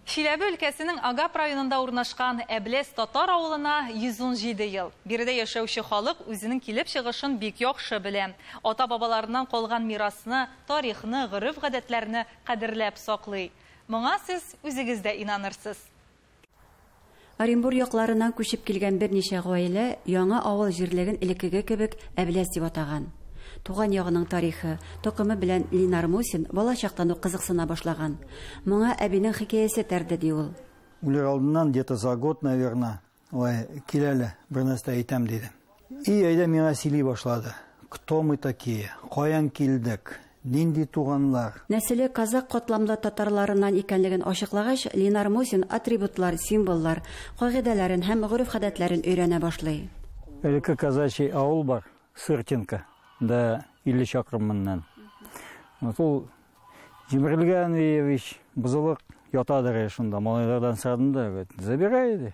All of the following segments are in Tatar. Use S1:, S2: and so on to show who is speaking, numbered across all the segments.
S1: Чиләбе өлкәсенең Агап районында урнашкан Әбләс татар авылына 117 ел. Биредә яшәүче халык үзенең килеп чыгышын бик яхшы белә. Ата-бабаларыннан калган мирасны, тарихны, гореф-гадәтләрне кадерләп саклый. Моңа сез үзегез дә инанырсыз.
S2: Оренбур якларыннан күчеп килгән берничә гаилә яңа авыл җирлеген элеккеге кебек Әбләс дип атаган. Туган ягының тарихы, токымы белән Линар Мусин балачактан ук кызыксына башлаган. Моңа әбинең хикәясе этәрде, ди ул. Үлер алдыннан,
S3: где-то за год, наверное, Ой, кил әле, бернәрсә әйтәм, дидем. И әйдә миңа сөйли башлады. Кто мы такие? Каян килдек? Нинди туганлар? Нәселе казакъ
S2: катламлы татарларыннан икәнлеген ачыклагач, Линар Мусин атрибутлар, символлар, кагыйдәләрен һәм гореф-гадәтләрен өйрәнә башлый. Элекке казачий
S3: авыл бар, Сыртинка, да 50 чакрым моннан. Вот ул Җимерелгән өе ич, бозылык, ятадыр шунда. Малайлардан сорадым да, говорит, забирай, ди.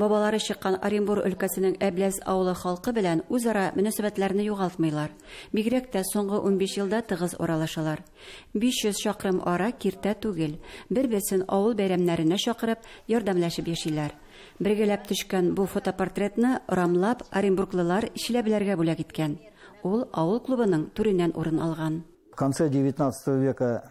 S3: Бабалары чыккан
S2: Оренбур өлкәсенең Әбләз авылы халкы белән үзара мөнәсәбәтләрне югалтмыйлар. Бигрәк тә соңгы унбиш елда тыгыз аралашалар. 500 чакрым ара киртә түгел. Бер-берсен авыл бәйрәмнәренә чакырып, ярдәмләшеп яшиләр. Бергәләп төшкән бу фотопортретны рамлап оренбурглылар чиләбеләргә бүләк иткән. Ул авыл клубының түреннән урын алган. В конце
S3: девятнадцатого века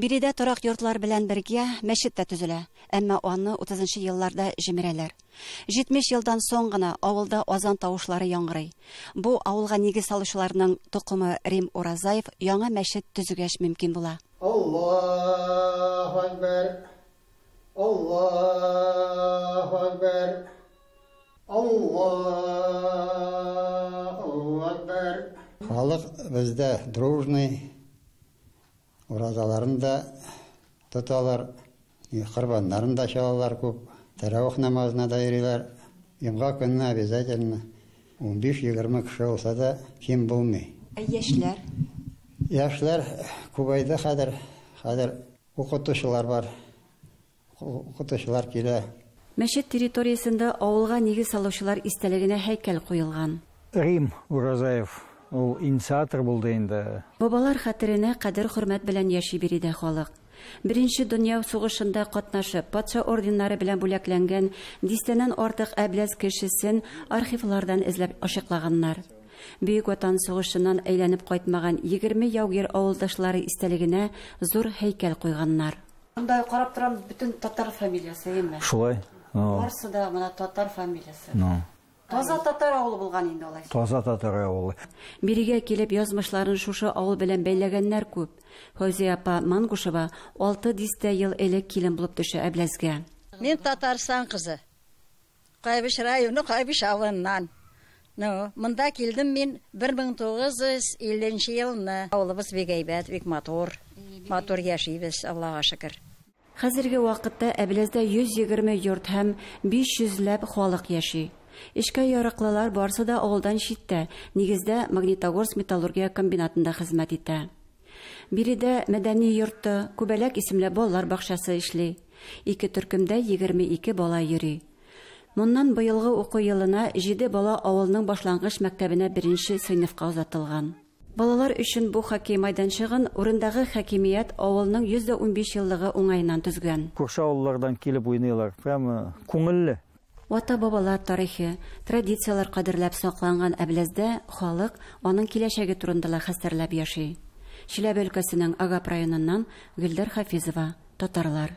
S3: Биредә торак
S2: йортлар белән бергә мәчет тә төзелә, әмма аны утызынчы елларда җимерәләр. Җитмеш елдан соң гына авылда азан тавышлары яңгырый. Бу авылга нигез салучыларның токымы Рим Уразаев яңа мәчет төзегәч мөмкин була. Аллаһу
S4: әкбәр! Аллаһу әкбәр! Аллаһу әкбәр! Халык бездә дружный. Уразаларын да тоталар, корбаннарын да чалалар күп, тәравих намазына да йөриләр. Йомга көнне обязательно унбиш-егерме кеше булса да ким булмый. Ә яшьләр? Яшьләр күбәйде хәзер. Хәзер укытучылар бар. Укытучылар килә. Мәчет
S2: территориясендә авылга нигез салучылар истәлегенә һәйкәл куелган. Рим
S3: Уразаев, ул инициатор булды инде. Бабалар хәтеренә
S2: кадер-хөрмәт белән яши биредә халык. Беренче дөнья сугышында катнашып, патша орденнары белән бүләкләнгән дистәннән артык әбләз кешесен архивлардан эзләп ачыклаганнар. Бөек Ватан сугышыннан әйләнеп кайтмаган егерме яугир авылдашлары истәлегенә зур һәйкәл куйганнар. Монда карап торам, бөтен татар фамилиясе, әйеме? Шулай.
S3: Барсы да
S2: мына татар фамилиясе. Таза татар авылы булган инде алайса. Таза татар авылы.
S3: Бирегә килеп
S2: язмышларын шушы авыл белән бәйләгәннәр күп. Фәүзия апа Мангушева алты дистә ел элек килен булып төшә Әбләзгә. Мин Татарстан
S5: кызы. Кайбыч районы Кайбыч авылыннан. Ну, монда килдем мин 1950 нче елны. Авылыбыз бик әйбәт, бик матур. Матур яшибез, Аллага шөкер. Хәзерге
S2: вакытта Әбләздә 120 йорт һәм 500 ләп халык яши. Эшкә ярыклылар барсы да авылдан читтә, нигездә Магнитогорск металлургия комбинатында хезмәт итә. Биредә мәдәни йорты, Күбәләк исемле балалар бакчасы эшли. Ике төркемдә егерме ике бала йөри. Моннан быелгы уку елына җиде бала авылның башлангыч мәктәбенә беренче сыйныфка озатылган. Балалар өчен бу хоккей майданчыгын урындагы хакимият авылның 115 еллыгы уңаеннан төзгән. Күрше авыллардан
S3: килеп уйныйлар. Прямо күңелле. Ата-бабалар
S2: тарихы, традицияләр кадерләп сакланган Әбләздә халык аның киләчәге турында ла хәстәрләп яши. Чиләбе өлкәсенең Агап районыннан Гөлдәр Хафизова, татарлар.